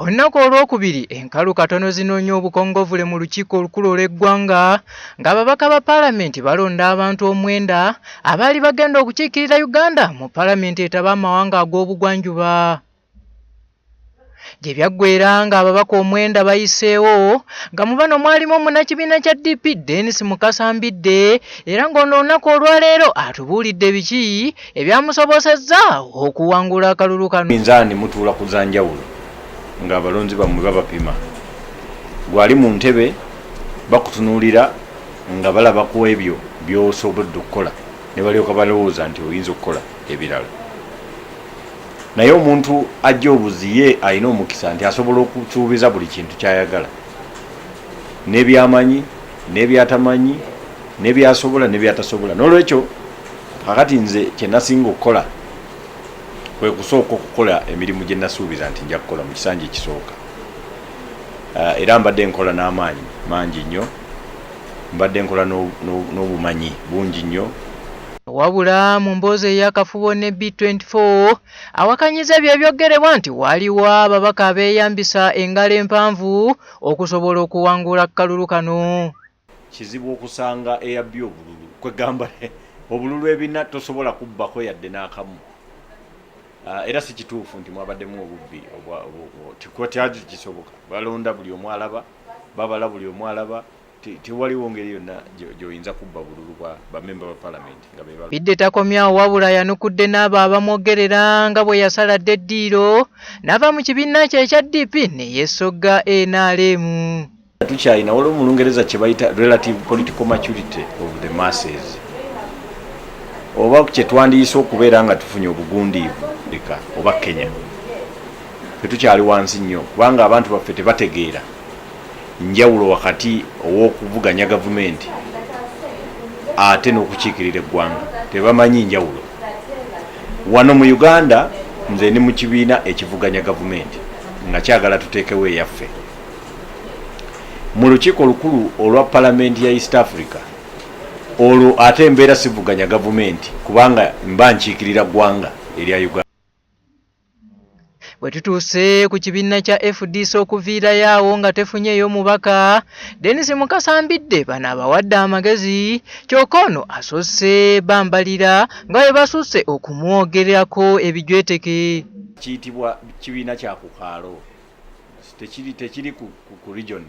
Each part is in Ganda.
Olunaku olwokubiri enkalu katono zinoonya obukongovule mu lukiiko olukulu olw'eggwanga ng'ababaka ba palamenti balonda abantu omwenda abaali bagenda okukiikirira Uganda mu palamenti etaba amawanga ag'obugwanjuba gye byaggwera ng'ababaka omwenda bayiseewo nga mu bano mwalimu omunnakibiina kya DP Dennis Mukasa Mbidde era ng'ono olunaku olwaleero atubuulidde biki ebyamusobosezza okuwangula akalulu kano. Minzaani mutuula ku za njawulo ng'abalonzi bammwe babapima. Gwali mu ntebe bakutunuulira nga balaba ku ebyo by'osobodde okukola ne balyoka balowooza nti oyinza okukola ebirala. Naye omuntu ajja obuzi ye alina omukisa nti asobola okusuubiza buli kintu ky'ayagala n'ebyamanyi n'ebyatamanyi. nebyasobola nebyatasobola nolwekyo kakati nze kyenasinga okukola kwekusooka okukola emirimu gyenasuubiza nti nja kukola mu kisanja ekisooka ah, era mbadde nkola n'amaanyi mangi nnyo mbadde nkola n'obumanyi bungi nnyo wabula mu mboozi eyakafubo ne b24 awakanyiza ebyo ebyoggerebwa nti waliwo ababaka abeeyambisa engalo empanvu okusobola okuwangula kalulu kano Kizibu okusanga eyabbye obululu kwegamba obululu ebina tosobola kubbako yadde n'akamu ah, era si kituufu nti mwabaddemu obubbi tikwatyaki kisoboka balonda buli omu alaba babala buli omu alaba tewaliwo ngeri yonna gyoyinza kubba bululu bwa bamemba ba palamenti nga bidde takomyawo wabula yanukudde n'abo abamwogerera nga bwe yasala dda eddiiro n'ava mu kibiina kye ekya dp ne yeesogga nrm tukyalina waliwo mu lungereza kyebayita relative political maturity of the masses oba kyetwandiyise okubeera nga tufunye obugundiivu leka oba kenya tetukyali wansi nnyo kubanga abantu baffe tebategeera njawulo wakati owokuvuganya gavumenti ate n'okukiikirira eggwanga tebamanyi njawulo wano mu uganda nze ndi mu kibiina ekivuganya gavumenti nga kyagala tuteekewo eyaffe mu lukiiko olukulu olwa palamenti ya east africa olwo ate mbeera sivuganya gavumenti kubanga mba nkiikirira ggwanga erya uganda bwe tutuuse ku kibiina kya fdc okuviirayo awo nga tefunyeeyo mubaka denis mukasambidde bano abawadde amagezi kyokka ono asoose bambalira nga bwe basusse okumwogerako ebijweteke kiyitibwa kibiina kya kukaalo tekiri tekiri ku, ku, ku region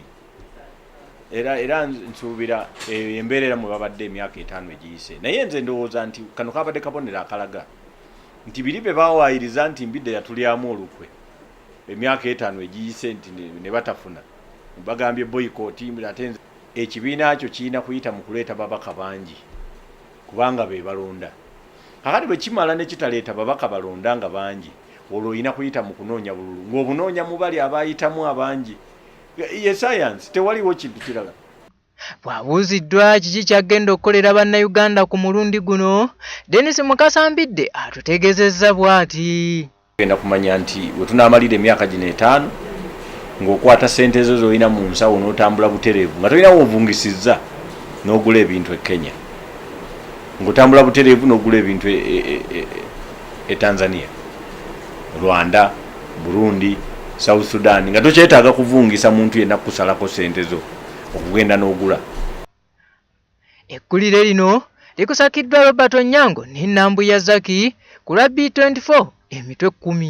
era era nsuubira eh, embeera era mwebabadde emyaka etaano egiyise naye nze ndowooza nti kano kabadde kabonero akalaga nti biri bye bawaayiriza nti mbidde yatulyamu olukwe emyaka etaano egiyise nti ne batafuna bagambye boyikooti ate ekibiina kyo kirina kuyita mu kuleeta babaka bangi kubanga be balonda kakati bwe kimala ne kitaleeta babaka balonda nga bangi olwo olina kuyita mu kunoonya bululu ng'obunoonya mu bali abaayitamu abangi ye sayansi tewaliwo kintu kirala bw'abuuziddwa kiki ky'agenda okukolera bannayuganda ku mulundi guno denis mukasambidde atutegezezza bw'ati genda kumanya nti we tunaamalira emyaka gino etaano ng'okwata ssente zo z'olina mu nsawo n'otambula butereevu nga tolina woovungisizza n'ogula ebintu e kenya ng'otambula butereevu n'ogula ebintu e, e, e tanzania rwanda burundi south sudan nga tokyetaaga kuvungisa muntu yenna kukusalako sente zo okugenda n'ogula ekkulire lino likusakiddwa robert onyango ne nambuya zaki ku lwa b24 emitwe kkumi